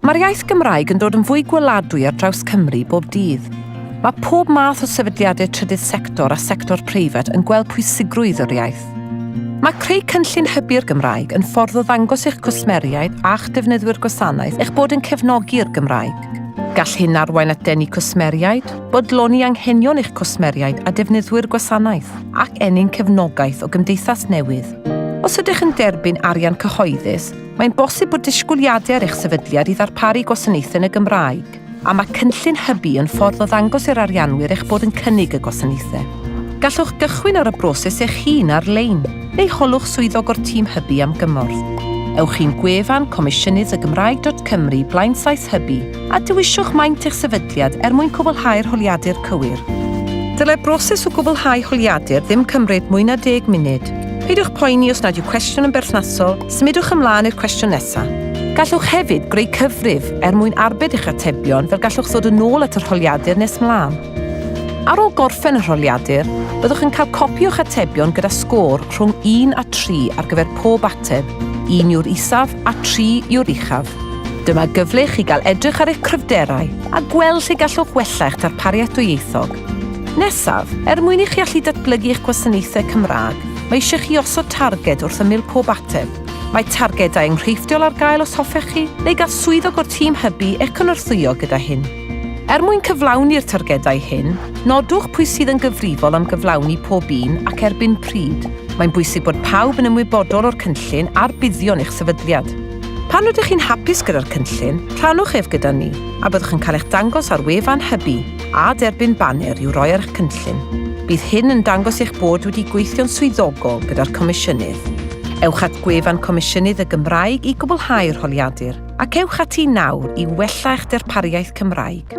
Mae'r iaith Gymraeg yn dod yn fwy gweladwy ar draws Cymru bob dydd. Mae pob math o sefydliadau trydydd sector a sector preifat yn gweld pwysigrwydd yr iaith. Mae creu cynllun hybu'r Gymraeg yn ffordd o ddangos i'ch cwsmeriaid a'ch defnyddwyr gwasanaeth eich bod yn cefnogi'r Gymraeg. Gall hyn arwain at denu cwsmeriaid, bodloni anghenion eich cwsmeriaid a defnyddwyr gwasanaeth, ac ennyn cefnogaeth o gymdeithas newydd. Os ydych yn derbyn arian cyhoeddus, Mae'n bosib bod disgwyliadau ar eich sefydliad i ddarparu gwasanaethau yn y Gymraeg, a mae cynllun hybu yn ffordd o ddangos i'r arianwyr eich bod yn cynnig y gwasanaethau. Gallwch gychwyn ar y broses eich hun ar-lein, neu holwch swyddog o'r tîm hybu am gymorth. Ewch i'n gwefan comisiynyddygymraeg.cymru blaenllaes hybu a dewiswch maint eich sefydliad er mwyn cwblhau'r holiadur cywir. Dylai'r broses o gwblhau holiadur ddim cymryd mwy na deg munud. Peidiwch poeni os nad yw cwestiwn yn berthnasol, Symudwch ymlaen i'r cwestiwn nesaf. Gallwch hefyd greu cyfrif er mwyn arbed eich atebion fel gallwch ddod yn ôl at yr holiadur nes mlaen. Ar ôl gorffen yr holiadur, byddwch yn cael copi o'ch atebion gyda sgôr rhwng 1 a 3 ar gyfer pob ateb, 1 yw'r isaf a 3 yw'r uchaf. Dyma gyfle i chi gael edrych ar eich cryfderau a gweld lle gallwch wella eich darpariaeth dwyieithog. Nesaf, er mwyn i chi allu datblygu eich gwasanaethau Cymraeg, Mae eisiau chi osod targed wrth ymyl pob ateb. Mae targedau enghreifftiol ar gael os hoffech chi, neu gall swyddog o'r tîm hybu eich cynorthwyo gyda hyn. Er mwyn cyflawni'r targedau hyn, nodwch pwy sydd yn gyfrifol am gyflawni pob un ac erbyn pryd. Mae'n bwysig bod pawb yn ymwybodol o'r cynllun a'r buddion eich sefydliad. Pan rydych chi'n hapus gyda'r cynllun, rhannwch ef gyda ni, a byddwch yn cael eich dangos ar wefan hybu. a derbyn baner i'w roi ar eich cynllun. Bydd hyn yn dangos eich bod wedi gweithio'n swyddogol gyda'r Comisiynydd. Ewch at gwefan Comisiynydd y Gymraeg i gwblhau'r holiadur, ac ewch ati nawr i wella eich darpariaeth Cymraeg.